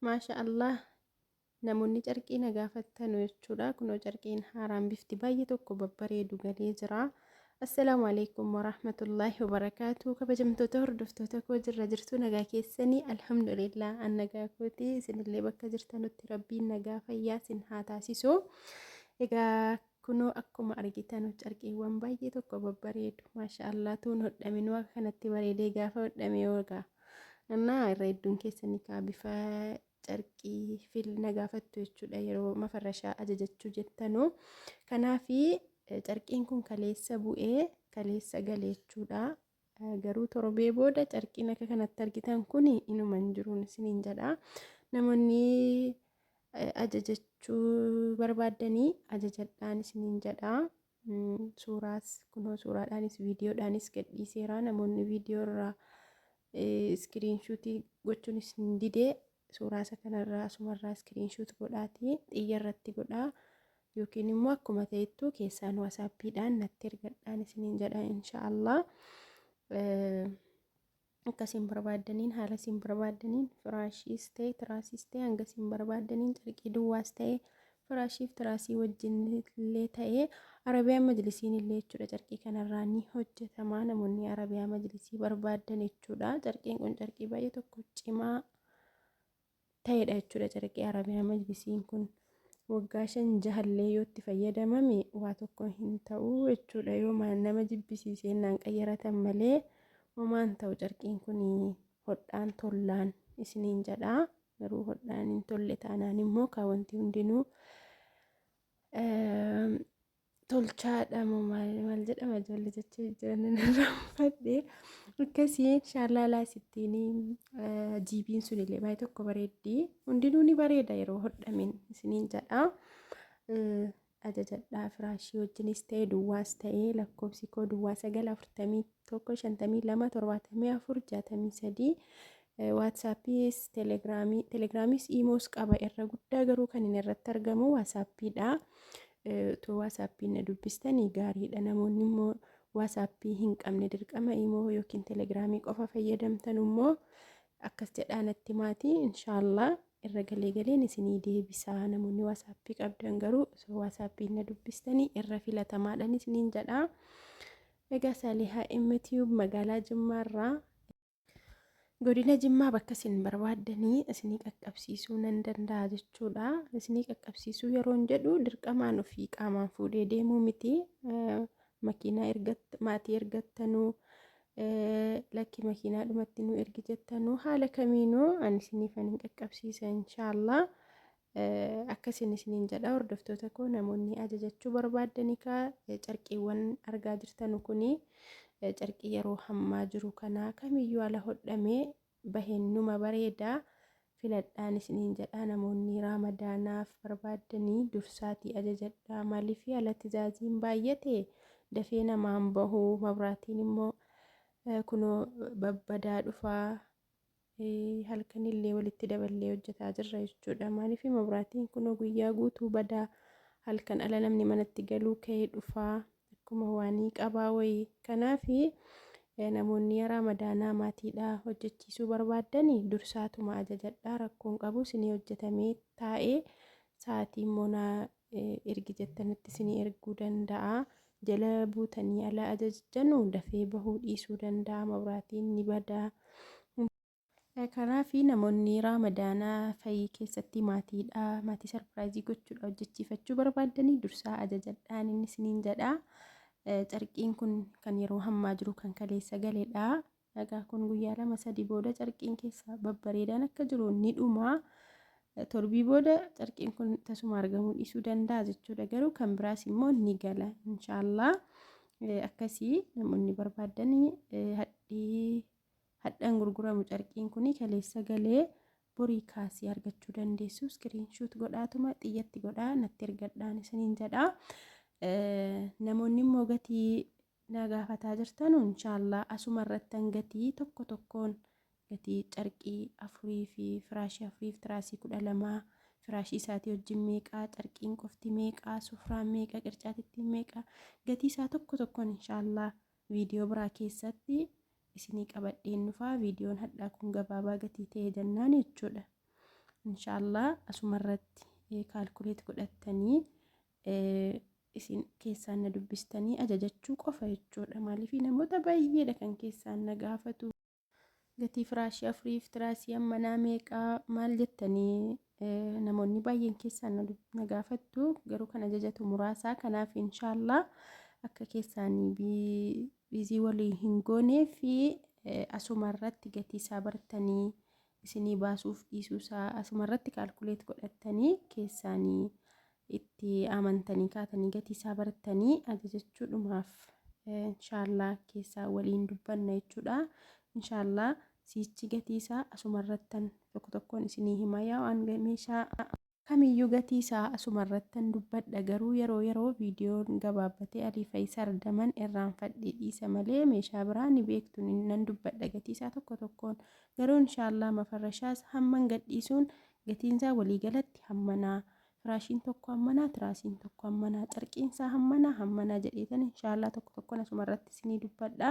Maasha Allah namoonni carqii na gaafattanu jechuudha kunoo carqiin haaraan bifti baay'ee tokko babbareedu galee jira assalaamu alaikum warahmatullaahi wabarakaatu kabajamtoota hordoftoota koo jirra jirtu nagaa keessanii alhamdulillah an nagaa kooti isinillee bakka jirtanutti rabbiin nagaa fayyaa sin haa taasisu egaa Kunoo akkuma argitanu carqiiwwan baay'ee tokko babbareedu maasha Allah tuun hodhaminuu akka kanatti bareedee gaafa hodhame hoogaa annaa irra hedduun keessanii kaa bifa carqii fil na gaafattu jechuudha yeroo mafarrashaa ajajachuu jettanu kanaafi carqiin kun kaleessa bu'ee kaleessa gale jechuudha garuu torbee booda carqiin akka kanatti argitan kun inuma hin jiruun isiniin jedha namoonni ajajachuu barbaaddanii ajajadhaan isiniin jedha suuraas kunoo suuraadhaanis viidiyoodhaanis gadhiiseera namoonni viidiyoo irraa iskiriinshuutii gochuun isin didee Suuraa isa kanarraa asumarraa screenshot godhaatii xiyya irratti godhaa yookiin immoo akkuma ta'ettu keessaan waasaappiidhaan natti ergadhaan isiniin jedha insha Allah. Akka isin barbaaddaniin haala isin barbaaddaniin firaashiis ta'e tiraasiis ta'e hanga isin barbaaddaniin carqii duwwaas ta'e Firaashiif tiraasii wajjin illee ta'ee Arabiyaa majlisiin illee jechuudha carqii kanarraa ni hojjetama namoonni Arabiyaa majlisii barbaaddan jechuudha carqiin kun carqii baay'ee tokko cimaa ta'edha jechuudha carqii Arabiyaa majlisiin kun waggaa shan jahallee yoo itti fayyadamame waa tokko hin ta'u jechuudha yoo nama jibbisiisee naan qayyaratan malee homaan ta'u carqiin kun hodhaan tollaan isiniin jedhaa. Garuu hodhaan hin tolle taanaan immoo kaa wanti hundinuu tolchaadha moo maal maal jedhama ijoollee jechuu jiran irraanfadhe akkasii inshaallah laa sittiin jiibiin sun illee baay'ee tokko bareeddi hundinuu ni bareeda yeroo hodhamin isiniin jedha Ajajadhaa firaashii wajjinis ta'e duwwaas ta'ee lakkoofsi koo duwwaa 9 41 52 74 63 waatsaappiis telegiraamii telegiraamiis iimoos qaba irra guddaa garuu kan inni irratti argamu waasaappiidha utuu waasaappiin na dubbistanii gaariidha namoonni immoo waasaappii hin qabne dirqama iimoo yookiin telegiraamii qofa fayyadamtan immoo akkas jedhaa natti maatii inshaallah irra galee galeen isinii deebisaa namoonni waasaappii qabdan garuu osoo waasaappii na dubbistanii irra filatamaadhaan isiniin jedhaa egaa saalihaa imtiyuub magaalaa jimmaarraa godina jimmaa bakka isin barbaaddanii isinii qaqqabsiisuu nan danda'a jechuudha isinii qaqqabsiisuu yeroon jedhu dirqamaan ofii qaamaan fuudhee deemuu miti makiinaa ergatt maatii ergattanuu lakki makiinaa dhumatti nu ergi jettanu haala kamiinuu ani isiniifan hin qaqqabsiisa inshaallah akkasin isiniin jedha hordoftoota koo namoonni ajajachuu barbaaddan egaa carqiiwwan argaa jirtanu kuni carqii yeroo hammaa jiru kana kamiyyuu ala hodhamee bahen numa bareeda filadhaan isiniin jedhaa namoonni raamadaanaaf barbaaddanii dursaatii ajajadhaa maalifi ala tizaaziin baay'ate dafee namaan bahu mabraatiin immoo kunoo babbadaa dhufaa halkanillee walitti daballee hojjetaa jirra jechuudha maalifi mabraatiin kunoo guyyaa guutuu badaa halkan ala namni manatti galuu ka'ee dhufaa Akkuma waanii qabaa wayii. Kanaafi namoonni ya raamadaanaa maatiidhaa hojjachiisuu barbaaddani dursaatuma ajajadhaa rakkoon qabu sinii hojjatamee taa'ee sa'aatii immoo naa ergi jettanitti sinii erguu danda'a jala buutanii ala ajajjanu dafee bahuu dhiisuu danda'a mabraatiin ni badaa Kanaafi namoonni Raamadaana fayii keessatti maatiidha maatii sarpiraayizii gochuudha hojjechiifachuu barbaaddanii dursaa ajajadhaan inni isiniin jedha. Carqiin kun kan yeroo hammaa jiru kan kaleessa galeedha. Egaa kun guyyaa lama sadii booda carqiin keessa babbareedaan akka jiru ni dhuma. Torbii booda carqiin kun tasuma argamuu dhiisuu danda'a jechuudha. Garuu kan biraas immoo ni gala inshaallah. Akkasii namoonni barbaaddanii hadhii Hadha hin gurguramu carqiin kuni kaleessa galee borii kaasii argachuu dandeessu screen shoot godhaatuma xiyyatti godhaa natti ergadhaan isiniin jedha namoonni immoo gatii na gaafataa jirtanu inshaallah asuma irrattan gatii tokko tokkoon gatii carqii afurii fi firaashii afurii fi tiraasii kudha lamaa firaashii isaatii wajjin meeqaa carqiin qofti meeqaa sufraan meeqa qircaatittiin meeqa gatii isaa tokko tokkoon inshaallah Video biraa keessatti isinii qabadheen dhufaa videon hadhaa kun gabaabaa gatii ta'ee jennaan jechuudha inshallah asuma irratti calculate godhattanii isin keessaan na dubbistanii ajajachuu qofa jechuudha maaliif namoota baay'eedha kan keessaan na gaafatu Gatii firaashii afuriif tiraasii ammanaa meeqa maal jettanii namoonni baay'een keessaan na gaafattu garuu kan ajajatu muraasaa kanaaf inshaallah akka keessaanii biizii walii hin goonee fi asuma irratti gatii isaa bartanii isinii baasuuf dhiisuu isaa asuma irratti kaalkuleet godhattanii keessaanii itti amantanii kaatanii gatii isaa bartanii ajajachuudhumaaf inshaallaa keessaa waliin dubbanna jechuudha inshaallaa siichi gatii isaa asumarrattan tokko tokkoon isinii hima yaa waan meeshaa kamiyyuu gatii isaa asumarrattan dubbadha garuu yeroo yeroo viidiyoon gabaabbatee alii fayisaar daman irraanfadhe dhiisa malee meeshaa biraa ni beektu nan dubbadha gatii isaa tokko tokkoon garuu inshaallaa mafarrashaas hamman gadhiisuun gatiinsaa waliigalatti hammanaa Firaashiin tokko hammanaa, tiraasiin tokko hammanaa, carqiin isaa hammanaa, hammanaa jedheetan inshaallah tokko tokkoon asuma irratti isinii dubbadha.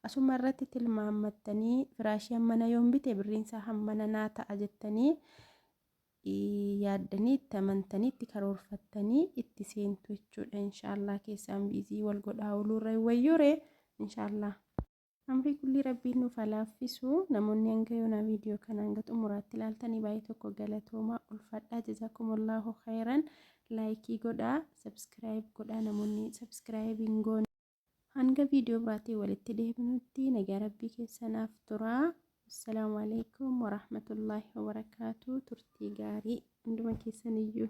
Asuma irratti tilmaammattanii firaashii hammana yoon bite birriin isaa hammana naa ta'a jettanii yaaddanii itti amantanii itti karoorfattanii itti seentu jechuudha. Inshaallah keessaan biizii wal godhaa ooluurra wayyuure inshaallah. Umrii kullii rabbiin nuuf haa laaffisu namoonni hanga yoonaa video kana hanga xumuraatti ilaaltanii baay'ee tokko galatoomaa ulfadhaa jazaakumullaahu khayran laayikii godhaa subscribe godhaa namoonni subscribe hin goone hanga video biraatiin walitti deebinutti nagaa rabbii keessanaaf turaa assalaamu alaikum warahmatullaahi wabarakaatu turtii gaarii hunduma keessaniyyuu